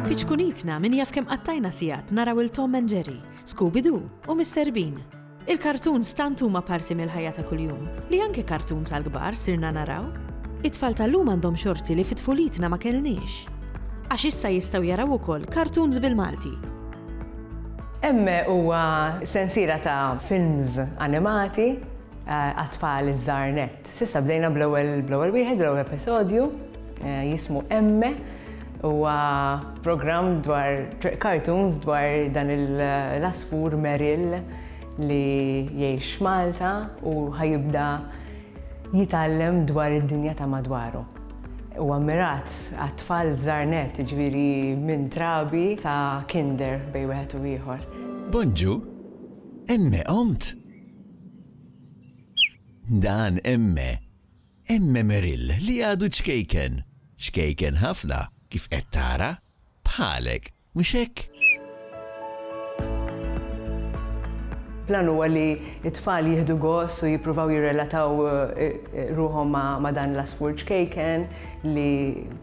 Fi ċkunitna min jaf kemm qattajna sigħat naraw 'il Tom and Jerry, Scooby Doo u Mister Bean. Il-kartuns tant huma parti mill-ħajja ta' kuljum li anke kartuns għall-kbar sirna naraw. It-tfal tal-lum għandhom xorti li fi tfulitna ma kellniex. Għax issa jistgħu jaraw ukoll kartuns bil-Malti. Emme huwa sensiela ta' films animati għat-tfal iż-żgħar nett. S'issa bdejna bl-ewwel wieħed, bl-ewwel episodju, jismu Emme. Huwa programm dwar cartoons dwar dan l-għasfur Merrill li jgħix f'Malta u ħa jibda jitgħallem dwar id-dinja ta' madwaru. Huwa mmirat għat-tfal żgħar nett, jiġifieri minn trabi sa kinder bejn wieħed u ieħor. Bonġu, Emme qomt? Dan Emme. Emme Merrill li għadu ċkejken. Ċkejken ħafna, kif qed tara. Bħalek, mhux hekk? Plan huwa li t-tfal jieħdu gost u jippruvaw jirrelataw ruħhom ma' dan l-għasfur ċkejken li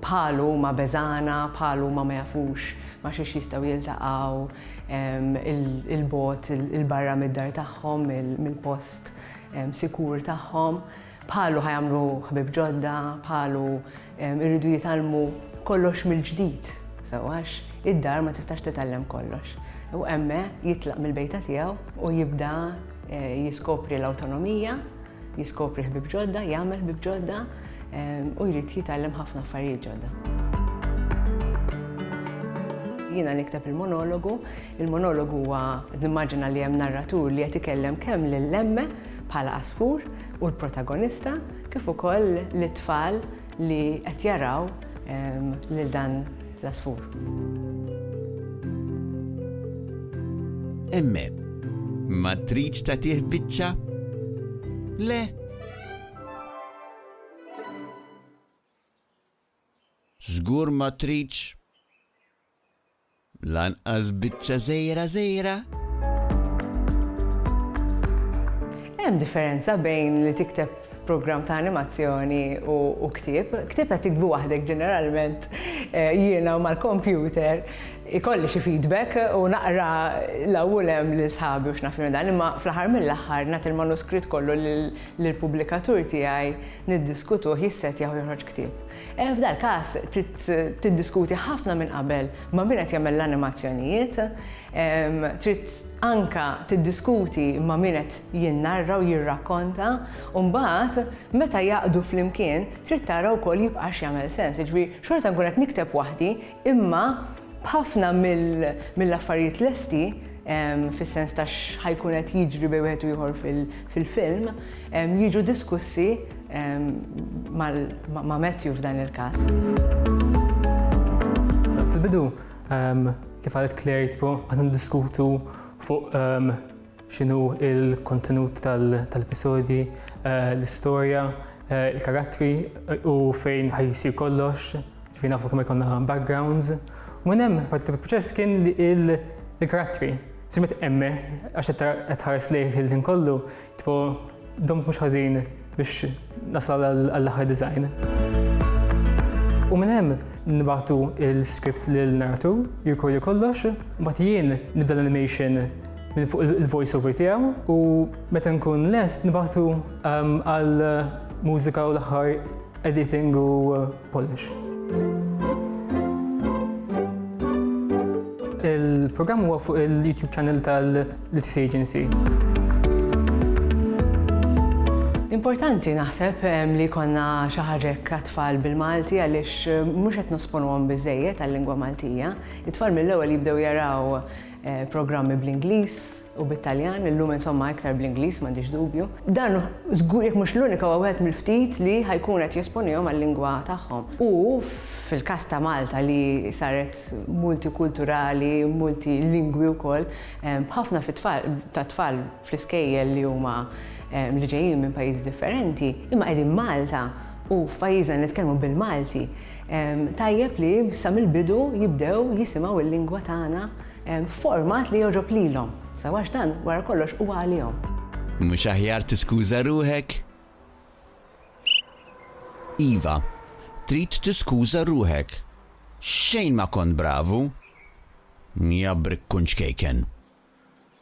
bħalu huma beżgħana, bħalu huma ma jafux ma' xiex jistgħu jiltaqgħu 'l bogħod, 'l barra mid-dar tagħhom, mill-post sikur tagħhom, bħalu ħajamlu ħbib ġodda, bħalu irridu jitalmu kollox mill-ġdid, sewax id-dar ma tistax titgħallem kollox. U emme jitlaq mill-bejta tiegħu u jibda eh, jiskopri l-awtonomija, jiskopri ħbib ġodda, jagħmel ħbib ġodda, u jrid jitgħallem ħafna affarijiet ġodda. Jiena nikteb il-monologu, il-monologu huwa nimmaġina li hemm narratur li qed ikellem kemm lill-emme bħala asfur u l-protagonista kif ukoll lit-tfal li qed jaraw ehm, lil dan l-asfur. Emme, ma tridx tagħtih biċċa? Le, Żgur ma tridx lanqas biċċa żgħira żgħira. Hemm differenza bejn li tikteb programm ta' animazzjoni u ktieb. Ktieb qed tikbu waħdek ġeneralment eh, jiena u mal-kompjuter ikolli xi feedback u naqra l-ewwel hemm lil sħabi u x'naf dan, imma fl-aħħar mill-aħħar nagħti l-manuskritt kollu lil lill-pubblikatur tiegħi niddiskutuh jissettjah u joħroġ ktieb. F'dal-każ trid tiddiskuti ħafna minn qabel ma' min qed jagħmel l-animazzjonijiet, trid anke tiddiskuti ma' min qed jinnarra u jirrakkonta u mbagħad meta jgħaqqdu flimkien trid tara wkoll jibqax jagħmel sens. Jiġifieri xorta nkun qed nikteb waħdi Imma b'ħafna mill-affarijiet lesti, fis-sens ta' x'ħa jkun qed jiġri bejn wieħed u ieħor fil-film, jiġu diskussi ma' Matthew f'dan il-każ. Fil-bidu, kif qalet Claire, aħna niddiskutu fuq X'inhu l-kontenut tal-episodji, l-istorja, il-karattri u fejn ħajsir kollox, ġifieri nafu kemm jkollna backgrounds. U minn hemm parti tal-proċess kien il-karattri. Simet emme, għax qed ħares lejh il-ħin kollu, tipo Domt mhux ħażin biex nasal għall-aħħar design. U minn hemm nibgħatu l-script lil narratur, jirkordi kollox, mbagħad jien nibda l-animation minn fuq il-voice over tiegħu u meta nkun lest nibgħatu ehm, għal mużika u l-aħħar editing u Polish. Il-programm huwa fuq il-YouTube channel tal-Literacy Agency. Importanti naħseb ehm, li konna xaħġek għatfall bil-Malti għalix ehm, mux għet nusponu għom bizzejiet għal-lingwa Maltija. It-tfal mill-ewel jibdew jaraw eh, programmi bl-Inglis, u bit-Taljan, illum insomma iktar bl-Ingliż m'għandix dubju. Dan żgur jekk mhux l-unika huwa wieħed mill-ftit li ħa jkun qed jesponihom għal-lingwa tagħhom. U fil-każ ta' Malta li saret multikulturali, multilingwi wkoll, b'ħafna fit-tfal tat-tfal fl-iskejjel li huma li ġejjin minn pajjiżi differenti, imma qegħdin Malta u f'pajjiżna nitkellmu bil-Malti, tajjeb li sa mill-bidu jibdew jisimgħu l-lingwa tagħna, f'format li jogħġob lilhom, sew għax dan, wara kollox, huwa għalihom. Mhux aħjar tiskuża ruħek? Iva, trid tiskuża ruħek. Xejn ma kont bravu. Jabrik kun ċkejken.